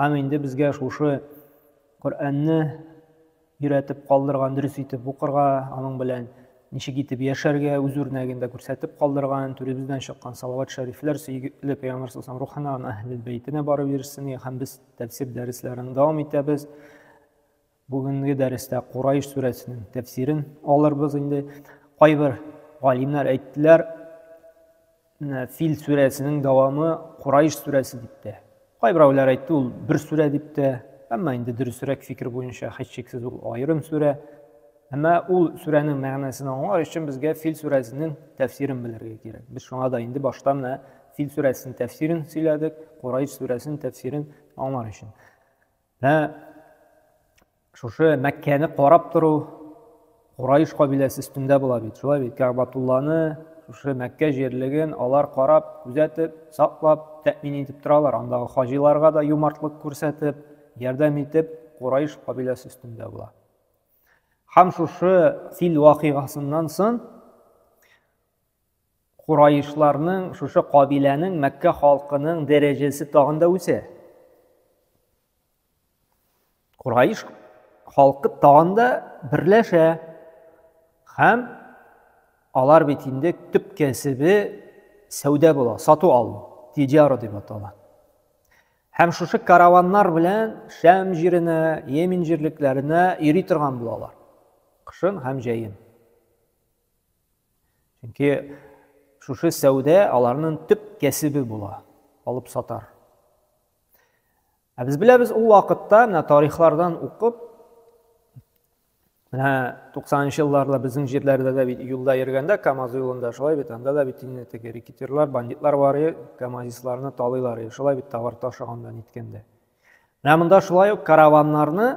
Һәм инде безгә шушы Коръәнне өйрәтеп калдырган, дөрес итеп укырга, аның белән ничек итеп яшәргә, үз үрнәгендә күрсәтеп калдырган, түребездән чыккан салават шәрифләр сөйгеле пәйгамбәр сасам рухына, аны әһлел бәйтенә барып ирешсен, һәм без тәфсир дәресләрен дәвам итәбез. Бүгенге дәрестә Курайш сүрәсенең тәфсирен алырбыз инде. Кайбер галимнәр әйттеләр, Фил сүрәсенең дәвамы Курайш сүрәсе дип тә. Кайберәүләр әйтте, ул бер сүрә дип тә. Әмма инде дөресрәк фикер буенча һичшиксез ул аерым сүрә. Әмма ул сүрәнең мәгънәсен аңлар өчен безгә Фил сүрәсенең тәфсирен белергә кирәк. Без шуңа да инде башта менә Фил сүрәсенең тәфсирен сөйләдек, Курайш сүрәсенең тәфсирен аңлар өчен. Ә шушы Мәккәне карап тору Курайыш кабиләсе өстендә була бит. Шулай бит Кәгъбатулланы, шушы Мәккә җирлеген алар карап, күзәтеп, саклап, тәэмин итеп торалар. Андагы хаҗиларга да юмартлык күрсәтеп, ярдәм итеп Курайыш кабиләсе өстендә була. Һәм шушы фил вакыйгасыннан соң Кураишларның, шушы кабиләнең, Мәккә халкының дәрәҗәсе тагын да үсә. Кураиш халкы тагын да берләшә. Һәм алар бит инде төп кәсебе сәүдә була, сату алу, тиҗара дип атала. Һәм шушы караваннар белән Шәм җиренә, Йемен җирлекләренә йөри торган булалар. Кышын һәм җәен. Чөнки шушы сәүдә аларның төп кәсебе була, алып сатар. Ә без беләбез ул вакытта менә тарихлардан укып, менә 90-нчы елларда безнең җирләрдә дә бит юлда йөргәндә КАМАЗ юлында шулай бит, анда да бит инде теге рекетирлар, бандитлар бар иде, КАМАЗистларны талыйлар иде, шулай бит товар ташыганда ниткәндә. Менә монда шулай ук караваннарны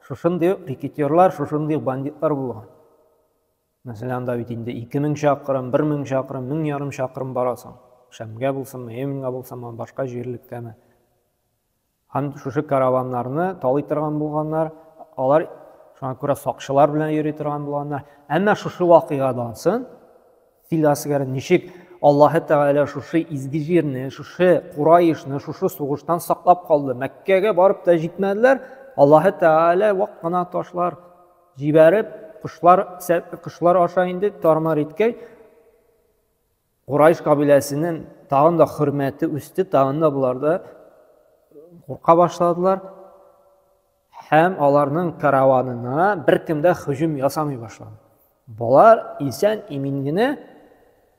шушындый ук рекетерлар, шушындый ук бандитлар булган. Мәсәлән, анда бит инде 2000 чакрым, 1000 чакрым, 1000 ярым чакрым барасың. Шәмгә булсынмы, Йеменга булсынмы, башка җирлеккәме. Һәм шушы караваннарны талый торган булганнар, алар шуңа күрә сакчылар белән йөри торган булганнар. Әмма шушы вакыйгадан соң Сөйләсегез, ничек Аллаһы Тәгалә шушы изге җирне, шушы Курайышны, шушы сугыштан саклап калды. Мәккәгә барып та җитмәделәр. Аллаһы Тәгалә вак кына ташлар җибәреп, кошлар, кошлар аша инде тармар иткәй, Курайыш кабиләсенең тагын да хөрмәте үсте, тагын да буларда курка башладылар. Һәм аларның караванына беркем дә һөҗүм ясамый башлады. Болар исән имин генә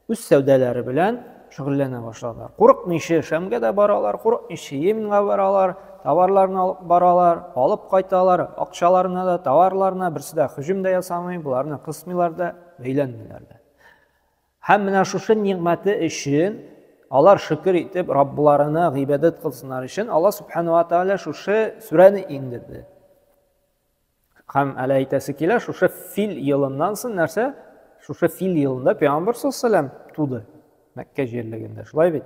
үз сәүдәләре белән шөгыльләнә башладылар. Курыкмыйча Шәмгә дә баралар, курыкмыйча Йеменга баралар, товарларын алып баралар, алып кайталар, акчаларына да, товарларына берсе дә һөҗүм дә ясамый, боларны кысмыйлар да, бәйләнмиләр дә. Һәм менә шушы нигъмәте өчен алар шөкер итеп Раббыларына гыйбадәт кылсыннар өчен Алла субхану ва тааля шушы сүрәне иңдерде. Һәм әле әйтәсе килә, шушы фил елыннан соң нәрсә? Шушы фил елында пәйгамбәр саллаллаху туды. Мәккә җирлегендә. Шулай бит?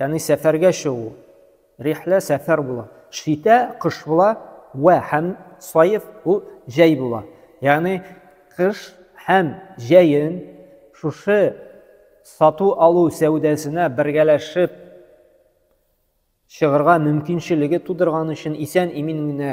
Яни сәфәргә чыгу. Рихлә сәфәр була. Шитә кыш була вә һәм сайф бу җәй була. Яни кыш һәм җәен шушы сату алу сәүдәсенә бергәләшеп чыгырга мөмкинчелеге тудырган өчен исән имин генә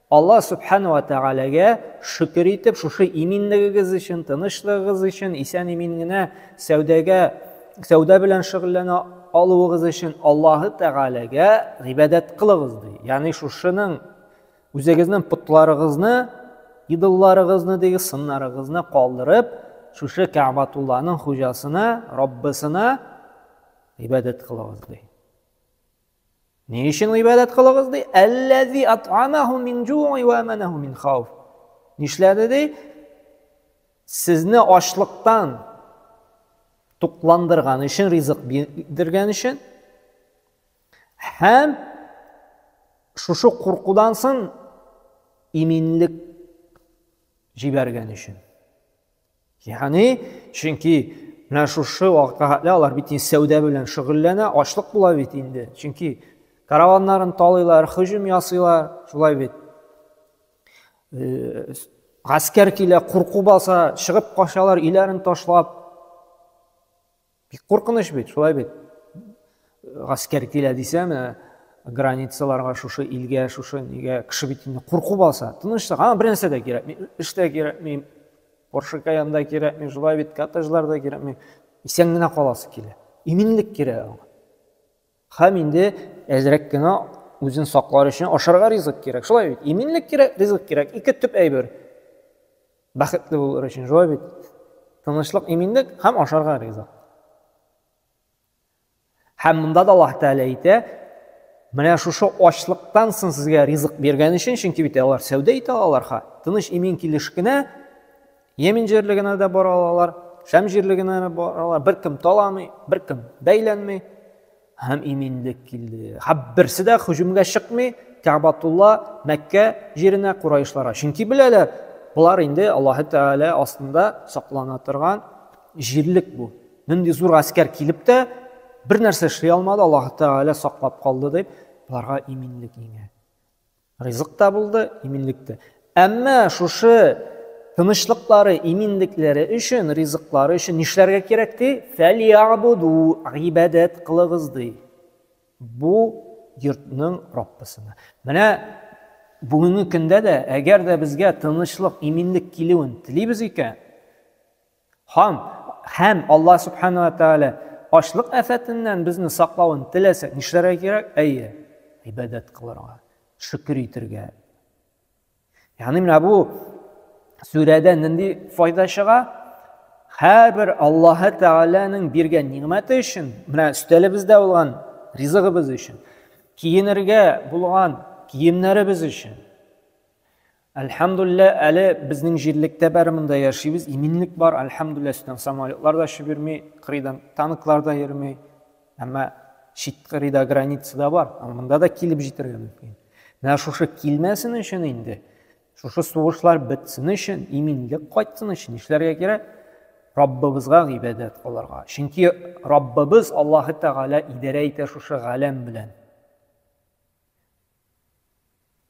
Алла Сүбхәнә вә Тәгаләгә шөкер итеп, шушы иминлегегез өчен, тынычлыгыгыз өчен, исән-имин генә сәүдәгә, сәүдә белән шөгыльләнә алуыгыз өчен Аллаһы Тәгаләгә гыйбадәт кылыгыз, ди. Ягъни шушының үзегезнең потларыгызны, идолларыгызны диге сыннарыгызны калдырып, шушы Кәгъбатулланың хуҗасына, Раббысына гыйбадәт кылыгыз, ди. Ни өчен гыйбадәт кылыгыз ди? Әлләзи ат'амаху мин жуи ва аманаху мин хауф. Нишләде ди? Сезне ачлыктан тукландырган өчен, ризык биргән өчен һәм шушы куркудан соң иминлек җибәргән өчен. Яни, чөнки менә шушы вакытка хәтле алар бит инде сәүдә белән шөгыльләнә, ачлык була бит инде. Чөнки караваннарын талыйлар, һөҗүм ясыйлар, шулай бит. Э, гаскәр килә, курку баса, чыгып качалар, иләрен ташлап. Бик куркыныч бит, шулай бит. Гаскәр килә дисә, менә границаларга шушы илгә, шушы нигә кеше бит инде курку баса. Тынычлык, аңа бер нәрсә дә кирәкми. Эш тә кирәкми, Porsche Cayenne да кирәкми, шулай бит, коттеджлар да кирәкми. Исән генә каласы килә. Иминлек кирәк аңа. Хәм инде әзрәк кенә үзен саклар өчен ашарга ризык кирәк. Шулай бит? Иминлек кирәк, ризык кирәк. Ике төп әйбер. Бәхетле булыр өчен, шулай бит? Тынычлык, иминлек һәм ашарга ризык. Һәм монда да Аллаһ Тәгалә әйтә, менә шушы ачлыктан соң сезгә ризык биргән өчен, чөнки бит алар сәүдә итә алалар ха. Тыныч имин килеш кенә Йемен җирлегенә дә бара алалар, Шәм җирлегенә дә бара алалар. Беркем таламый, беркем бәйләнми һәм иминлек килде. Һәм берсе дә һөҗүмгә чыкмый Кәгъбатулла Мәккә җиренә кураишларга. Чөнки беләләр, болар инде Аллаһы Тәгалә астында саклана торган җирлек бу. Нинди зур гаскәр килеп тә бер нәрсә эшли алмады, Аллаһы Тәгалә саклап калды дип, боларга иминлек иңә. Ризык та булды, иминлек тә. Әмма шушы тынычлыклары, иминлекләре өчен, ризыклары өчен нишләргә кирәк ди? Фәлиябуду, гыйбадәт кылыгыз ди. Бу йортның Раббысына. Менә бүгенге көндә дә, әгәр дә безгә тынычлык, иминлек килүен телибез икән, Һам, һәм Аллаһ Субхану ва Тааля ачлык афәтеннән безне саклавын теләсәк, нишләргә кирәк? Әйе, ибадәт кылырга, шөкер итергә. Ягъни менә бу сүрәдә нинди файда чыга? Һәрбер Аллаһ Тааляның биргән нигъмәте өчен, менә өстәлебездә булган ризыгыбыз өчен, киенергә булган киемнәребез өчен, Әлхәмдуллә, әле безнең җирлектә бәрі монда яшибез, иминлек бар, әлхәмдуллә, өстән самолетлар да очып йөрми, кырыйдан танклар да йөрми, әмма чит кырыйда граница да бар, монда да килеп җитәргә мөмкин. Менә шушы килмәсен өчен инде, шушы сугышлар бетсен өчен, иминлек кайтсын өчен нишләргә кирәк? Раббыбызга гыйбадәт кылырга. Чөнки Раббыбыз Аллаһы Тәгалә идарә итә шушы галәм белән.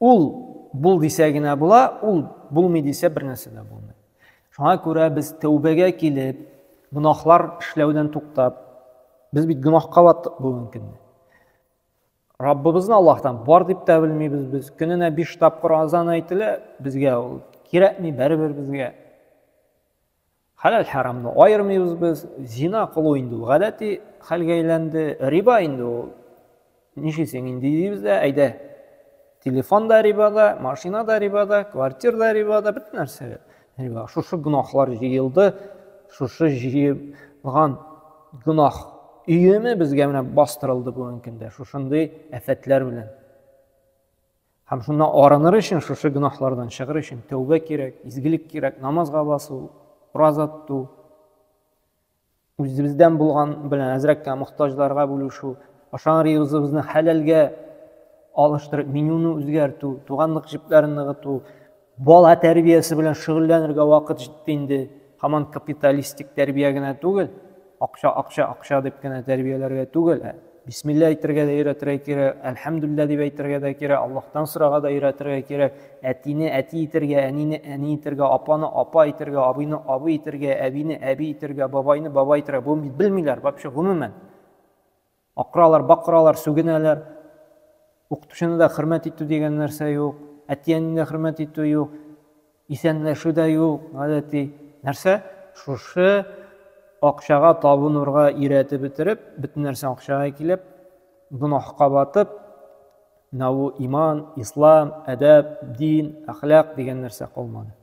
Ул бул дисә генә була, ул булмый дисә бер нәрсә дә булмый. Шуңа күрә без тәүбәгә килеп, гөнаһлар эшләүдән туктап, без бит гөнаһка баттык бүгенге көнне. Раббыбызны Аллаһтан бар дип тә белмибез без. Көненә 5 тапкыр азан әйтелә, безгә ул кирәкми, бәребер безгә. Хәләл-хәрамны аермыйбыз без, зина кылу инде ул гадәти хәлгә әйләнде, риба инде ул. Нишисең инде дибез дә, әйдә, телефон да рибада, машина да рибада, квартир да рибада, бөтен нәрсә риба. Шушы гөнаһлар җыелды, шушы җыелган гөнаһ өеме безгә менә бастырылды бүгенге көндә, шушындый афәтләр белән. Һәм шуннан арыныр өчен, шушы гөнаһлардан чыгыр өчен тәүбә кирәк, изгелек кирәк, намазга басу, ураза тоту, үзебездән булган белән әзрәккә мохтаҗларга бүлешү, ашаган ризыгыбызны хәләлгә алыштырып, менюны үзгәртү, туганлык җепләрен ныгыту, Бала тәрбиясе белән шөгыльләнергә вакыт җитте инде. Һаман капиталистик тәрбия генә түгел, акча, акча, акча дип кенә тәрбияләргә түгел, ә бисмилла әйтергә дә өйрәтергә кирәк, әлхәмдулилла дип әйтергә дә кирәк, Аллаһтан сорарга да өйрәтергә кирәк, әтине әти итергә, әнине әни итергә, апаны апа итергә, абыйны абый итергә, әбине әби итергә, бабайны бабай итергә, бу бит белмиләр вообще гомумән. Акыралар, бакыралар, сүгенәләр. Укытучыны да хөрмәт итү дигән нәрсә юк. Әти-әнине дә хөрмәт итү юк. Исәнләшү дә юк, гадәти. Нәрсә? Шушы акчага табынырга өйрәтеп бетереп, бөтен нәрсә акчага килеп, гөнаһка батып, менә бу иман, ислам, әдәп, дин, әхлак дигән нәрсә калмады.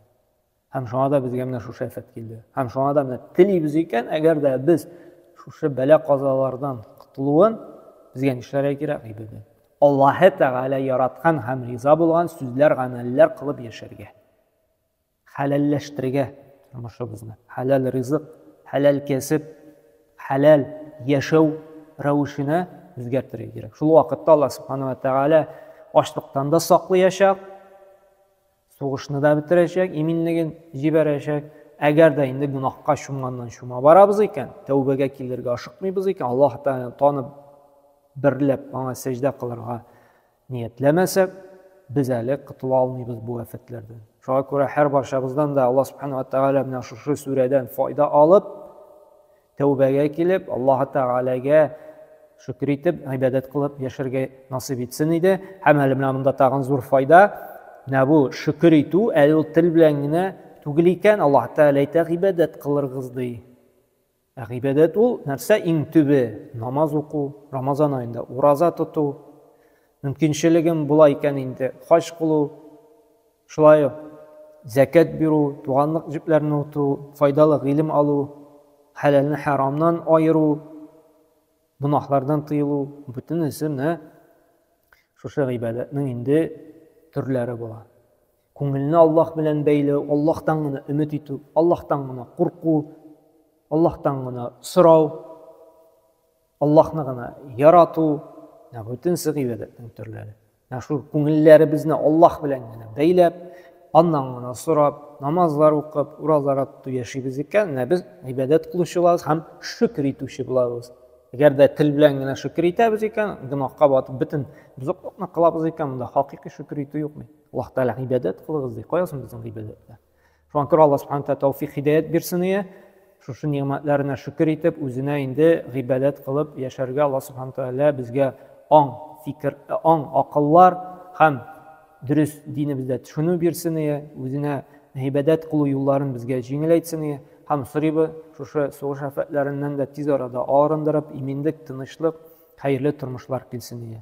Һәм шуңа да безгә менә шушы әфәт килде. Һәм шуңа да менә телибез икән, әгәр дә без шушы бәлә казалардан котылуын безгә нишләргә кирәк гыйбадәт? Аллаһы Тәгалә яраткан һәм риза булган сүзләр, гамәлләр кылып яшәргә. Хәләлләштерергә тормышыбызны. Хәләл ризык, хәләл кәсеп, хәләл яшәү рәвешенә үзгәртергә кирәк. Шул вакытта Аллаһ Субхану ва Тәгалә ачлыктан да саклыячак, Сугышны да бетерәчәк, иминлеген җибәрәчәк. Әгәр дә инде гөнаһка чумганнан чума барабыз икән, тәүбәгә килергә ашыкмыйбыз икән, Аллаһ Тәгаләне танып, берләп аңа сәҗдә кылырга ниятләмәсәк, без әле котыла алмыйбыз бу афәтләрдән. Шуңа күрә һәр барчабыздан да Аллаһ Субханаһу ва Тәгалә менә шушы сүрәдән файда алып, Тәүбәгә килеп, Аллаһы Тәгаләгә шөкер итеп, гыйбадәт кылып яшәргә насыйп итсен иде. Һәм әле менә монда тагын зур файда. Менә бу шөкер итү әле ул тел белән генә түгел икән, Аллаһ Тәгалә әйтә, гыйбадәт кылыргыз ди. Ә гыйбадәт ул нәрсә иң төбе? Намаз уку, Рамазан аенда ураза тоту, мөмкинчелегем була икән инде хаҗ кылу, Шулай ук зәкят бирү, туганлык җепләрен ныгыту, файдалы гыйлем алу, хәләлне хәрамнан аеру, гөнаһлардан тыелу, бөтенесе менә шушы гыйбадәтнең инде төрләре була. Күңелне Аллаһ белән бәйләү, Аллаһтан гына өмет итү, Аллаһтан гына курку, Аллаһтан гына сорау, Аллаһны гына ярату, менә бөтенсе гыйбадәтнең төрләре. Менә шул күңелләребезне Аллаһ белән генә бәйләп, аннан гына сорап, намазлар укып, уразалар тотып яшибез икән, менә без гыйбадәт кылучы булабыз һәм шөкер итүче булабыз. Әгәр дә тел белән генә шөкер итәбез икән, гөнаһка батып бөтен бозыклыкны кылабыз икән, монда хакыйкый шөкер итү юк бит. Аллаһ Тәгалә гыйбадәт кылыгыз ди. Кая соң безнең гыйбадәтләр? шуңа күрә алла субхан тәғәлә тәүфик хидәят бирсен ие шушы нигъмәтләренә шөкер итеп үзенә инде гыйбадәт кылып яшәргә алла субхан тәғәлә безгә аң фикер аң акыллар һәм дөрес динебездә төшенү бирсен ие үзенә гыйбадәт кылу юлларын безгә җиңеләйтсен ие һәм сорыйбыз шушы сугыш афәтләреннән дә тиз арада арындырып иминлек тынычлык хәерле тормышлар килсен ие